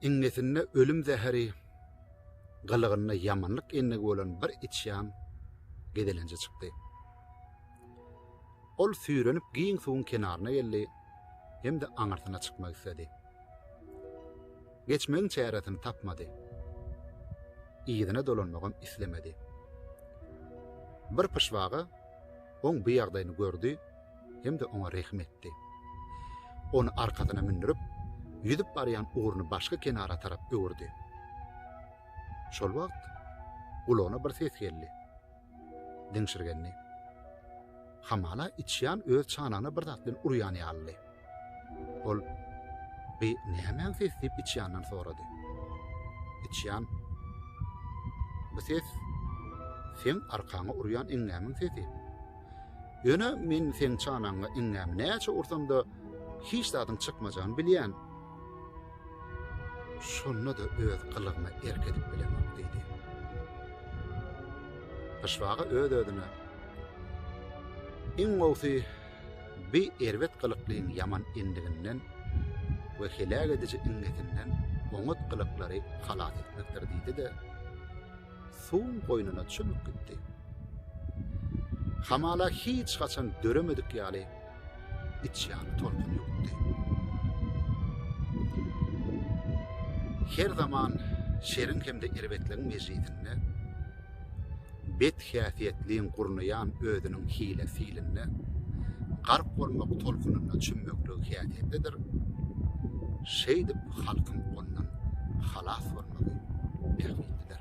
Iňňesinde ölüm zäheri, gylygynda ýamanlyk endigi bolan bir içýan gezelenje çykdy. Ol süýrenip giň suwuň kenaryna geldi hem-de aňyrsyna çykmak isledi. Geçmegiň çäresini tapmady. Yzyna dolanmagam islemedi. Bir pyşbaga oň bu ýagdaýyny gördi hem-de oňa rehim etdi. Ony arkasyna mündürip, ýüzüp barýan ugruny başky kenara tarap öwürdi. Şol wagt gulagyna bir ses geldi. Diňşirgendi. Hamala içýan öz çanagyna bir zat bilen urýan ýalydy. Ol Bi nämäň ses diýip içýandan sorady. Içýan Bu ses seň arkaňa urýan eňňämiň sesi. Ýöne men seň çanagyňa iňňämi näçe ursam-da, hiç zadyň çykmajagyny bilýän. Şonda-da öz gylygyma erk edip bilemok, diýdi. Pyşbaga öz-özüne, Iň gowusy, bi erbet gylyklyň ýaman endiginden we heläk ediji iňňesinden oňat gylyklary halas etmekdir, diýdi-de, suwuň goýnuna çümüp gitdi. Hamala hiç haçan döremedik ýaly içýany tolkun ýokdy. Her zaman şeriň hem-de erbetligiň mejlisinde bet häsiýetliň gurnaýan özüniň hile-hilinde gark bolmak tolkunynda çümmekligi häsiýetlidir. Şeýdip halkyň ondan halas bolmagy bähbitlidir.